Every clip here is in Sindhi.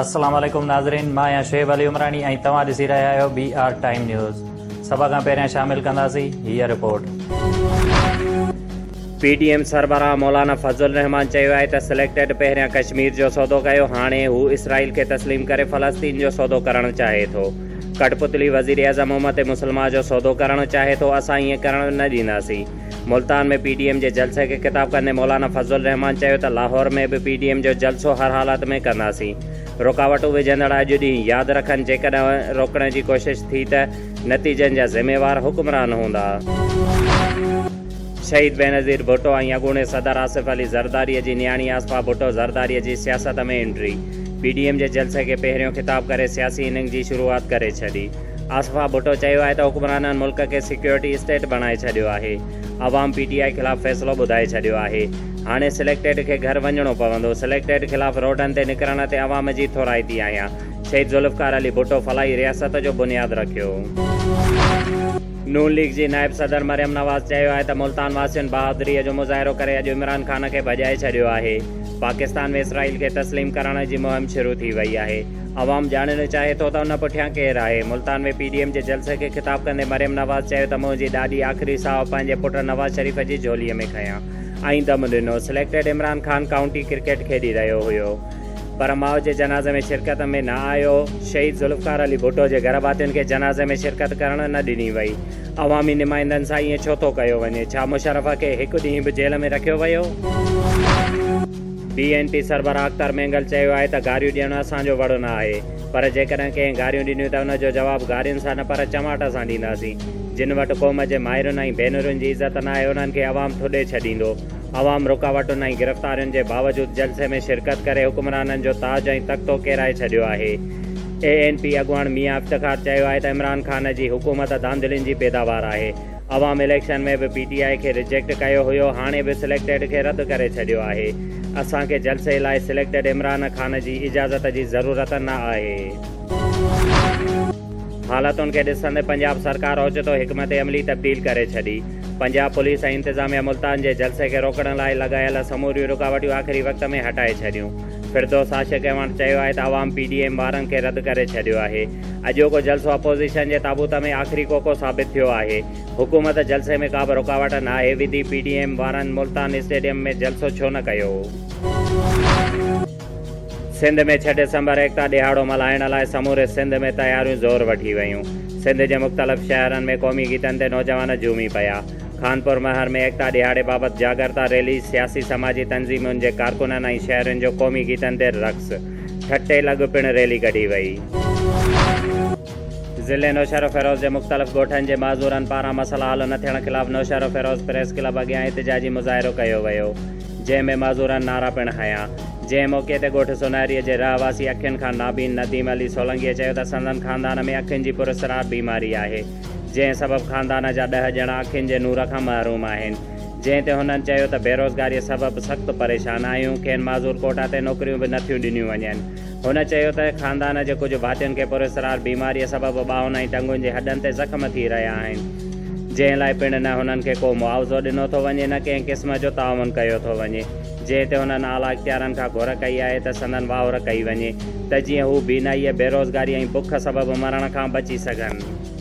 السلام عليڪم ناظرين مان آهيان شعيب علي عمراڻي ۽ توهان ڏسي رهيا آهيو بي آر ٽائيم نيوز سڀ کان پهريان شامل ڪنداسين هيء رپورٽ. پي ڊي ايم سربراهه مولانا فضل الرحمان چيو آهي ته سليڪٽيڊ پهريان ڪشمير جو سودو ڪيو هاڻي هو اسرائيل کي تسليم ڪري فلسطين جو سودو ڪرڻ چاهي ٿو. ڪٺپتلي وزيراعظم امت مسلمه جو سودو ڪرڻ چاهي ٿو، اسان ايئن ڪرڻ نه ڏينداسين. ملتان ۾ پي ڊي ايم جي جلسي کي خطاب ڪندي مولانا فضل الرحمان چيو ته لاهور ۾ به پي ڊي ايم جو جلسو هر حالت ۾ ڪنداسين. رڪاوٽون وجهندڙ اڄ ڏينهن ياد رکن، جيڪڏهن روڪڻ جي ڪوشش ٿي ته نتيجن جا ذميوار حڪمران هوندا. شهيد بينظير ڀٽو ۽ اڳوڻي صدر آصف علي زرداري جي نياڻي آصفا ڀٽو زرداري جي سياست ۾ انٽري، پي ڊي ايم جي جلسي کي پهريون خطاب ڪري سياسي اننگ جي شروعات ڪري ڇڏي. آصفا ڀٽو چيو آهي ته حڪمرانن ملڪ کي سيڪيورٽي اسٽيٽ بڻائي ڇڏيو آهي، عوام پي ٽي آء خلاف فيصلو ٻڌائي ڇڏيو آهي، هاڻي سليڪٽيڊ کي گهر وڃڻو پوندو، سليڪٽيڊ خلاف روڊن تي نڪرڻ تي عوام جي ٿورائتي آهيان، شهيد ذوالفقار علي ڀٽو فلاحي رياست جو بنياد رکيو. نون ليگ جي نائب صدر مريم نواز چيو آهي ته ملتان واسين بهادري جو مظاهرو ڪري اڄ عمران خان کي ڀڄائي ڇڏيو آهي، پاڪستان ۾ اسرائيل کي تسليم ڪرائڻ جي مهم شروع ٿي وئي آهي، عوام ڄاڻڻ چاهي ٿو ته ان پٺيان ڪير آهي، ملتان ۾ پي ڊي ايم جي جلسي کي خطاب ڪندي مريم نواز چيو ته منهنجي ڏاڏي آخري ساهه پنهنجي پٽ نواز شريف جي جهولي ۾ کنيا ۽ دم ڏنو، selected Imran Khan county cricket کيڏي رهيو هيو. پر ماء جي جنازي ۾ شرڪت ۾ نه آيو، شهيد ذوالفقار علي ڀٽو جي گهر ڀاتين کي جنازي ۾ شرڪت ڪرڻ نه ڏني وئي، عوامي نمائندن سان ائين ڇو ٿو ڪيو وڃي، ڇا مشرف کي هڪ ڏينهن به جيل ۾ رکيو ويو؟ بي اين پي سربراهه اختر مينگل چيو آهي ته گاريون ڏيڻ اسان جو وڙ نه آهي، پر جيڪڏهن ڪنهن گاريون ڏنيون ته ان جو جواب گارين سان نه پر چماٽ سان ڏينداسين، جن وٽ قوم جي مائرن ۽ ڀينرن جي عزت نه آهي انهن کي عوام ٿڏي ڇڏيندو، عوام رڪاوٽن ۽ گرفتارين جي باوجود جلسي ۾ شرڪت ڪري حڪمرانن جو تاج ۽ تختو ڪيرائي ڇڏيو آهي. اي اين پي اڳواڻ ميان افتخار چيو آهي ته عمران خان جي حڪومت ڌانڌلين جي پيداوار آهي، عوام اليڪشن ۾ به پي ٽي آء کي رجيڪٽ ڪيو هيو هاڻي به سليڪٽيڊ کي رد ڪري ڇڏيو آهي، اسان کي جلسي لاء سليڪٽيڊ عمران خان جي اجازت جي ضرورت نه آهي. حالتن کي ڏسندي پنجاب سرڪار اوچتو حڪمت عملي تبديل ڪري ڇڏي. پنجاب پوليس ۽ انتظاميه ملتان جي جلسي کي روڪڻ لاء لڳايل سموريون رڪاوٽيون آخري وقت ۾ هٽائي ڇڏيون. فردوس عاشق ايوانڊ چيو آهي ته عوام پي ڊي ايم وارن کي رد ڪري ڇڏيو آهي. اڄوڪو جلسو اپوزيشن جي تابوت ۾ آخري ڪوڪو ثابت ٿيو آهي. حڪومت جلسي ۾ ڪابه رڪاوٽ ناهي وڌي پي ڊي ايم وارن ملتان اسٽيڊيم ۾ جلسو ڇو نه ڪيو. سنڌ ۾ ڇهه ڊسمبر ايڪتا ڏهاڙو ملهائڻ لاء سموري سنڌ ۾ تياريون زور وٺي ويون. سنڌ جي مختلف شهرن ۾ قومي گيتن تي نوجوان جهومي پيا. خانپور مهر ۾ ايڪتا ڏهاڙي بابت جاڳرتا ريلي، سياسي سماجي تنظيمن جي ڪارڪنن ۽ شهرين جو قومي گيتن تي رقص، ٺٽي لڳ پڻ ريلي ڪڍي وئي. ضلعي نوشهروفيروز جي مختلف ڳوٺن جي معذورن پاران مسئلا حل نه ٿيڻ خلاف نوشهروفيروز پريس ڪلب اڳيان احتجاجي مظاهرو ڪيو ويو. جنهن ۾ معذورن نعرا پڻ هنيا. جنهن موقعي تي ڳوٺ سونهري جي رهواسي اکين کان نابين نديم علي سولنگيء چيو ته سندن خاندان ۾ اکين جي پراسرار بيماري آهي، جنهن سبب خاندان جا ڏهه ڄڻا اکين جي نور کان محروم آهن. جنهن تي هنن چيو ته بيروزگاريء سبب سخت پريشان آهيون، کين معذور ڪوٽا تي نوڪريون به نٿيون ڏنيون وڃن. هن چيو ته خاندان جي ڪجهه ڀاتين کي پراسرار بيماريء سبب ٻانهن ۽ ٽنگن جي هڏن تي زخم ٿي رهيا آهن، جنهن لاء پڻ نه هنن کي ڪو معاوضو ڏنو ٿو وڃي نه ڪنهن قسم جو تعاون ڪيو ٿو وڃي، جنهن تي هنن اعليٰ اختيارن کان گهر ڪئي آهي ته سندن واهر ڪئي وڃي ته جيئن هو بينائيء، بيروزگاري ۽ بک سبب مرڻ کان بچي سگهن.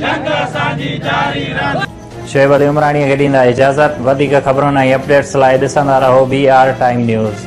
جنگ اسان جي جاري رهندي. شعيب علي عمراڻيء کي ڏيندا اجازت. وڌيڪ خبرن ۽ اپڊيٽس لاء ڏسندا رهو بي آر ٽائيم نيوز.